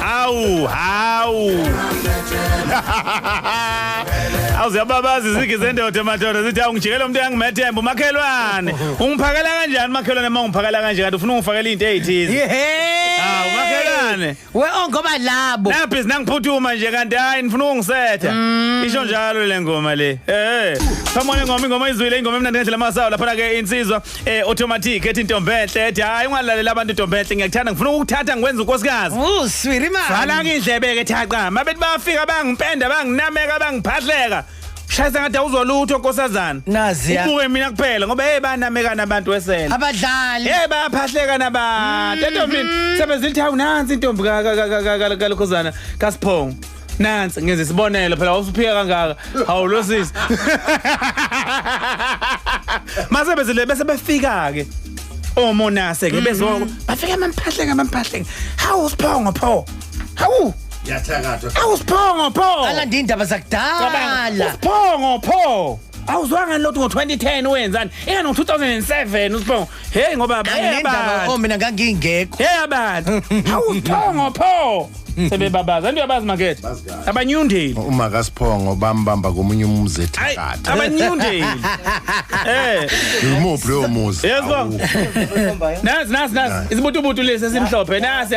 Hawu, hawu. Awuziyababaza izigi zendoda madoda zithi awungijikela umuntu engimethemba umakhelwane. Ungiphakela kanjani makhelwane uma ungiphakela kanje kanti ufuna ungifakela into ezithize. Yehhe. Ah, umakhelwane. We oh ngoba labo. Naphi sinangiphuthuma nje kanti hayi nifuna ukungisetha. Isho njalo le ngoma le. Eh. Phamone ngoma ingoma izwile ingoma emnandi ngendlela masawu lapha ke insizwa eh automatic ethi ntombenhle ethi hayi ungalalela abantu ntombenhle ngiyakuthanda ngifuna ukuthatha ngikwenza unkosikazi Oh, swiri man. vala ke indlebe ke thaqa mabethi bafika bangimpenda banginameka bangiphahleka shayisa ngathi awuzolutho nkosazana Nazi ya. ubuke mina kuphela ngoba hey banamekana abantu wesela Abadlali. Hey bayaphahleka nabantu entombini sebezilithi awunansi intombi ka- ka- ka- ka- ka- kalokhozana kasiphongo nansi ngenza isibonelo phela wawusuphika kangaka hawu lo sisi mase bezile bese befika ke omonase ke bezoko mm-hmm. bafika amamphahleke amamphahleke hawu usiphongo pho hawu yathakathwa hawu usiphongo pho alanda indaba zakudala usiphongo pho awuzwanga lotho ngo-2010 wenzani ingani ngo-2007 usiphongo Hey ngoba bayaba. Oh mina ngangingekho. Hey abantu. Hawu sithongo pho. sebebabazi anti uyabazi makethe abanyundeli uma kasiphongo bambamba komunye umuzi ethakatha abanyundeli eh yimuphi lowo muzi yezwa nasi nasi nasi isibutubutu lesi esimhlophe nasi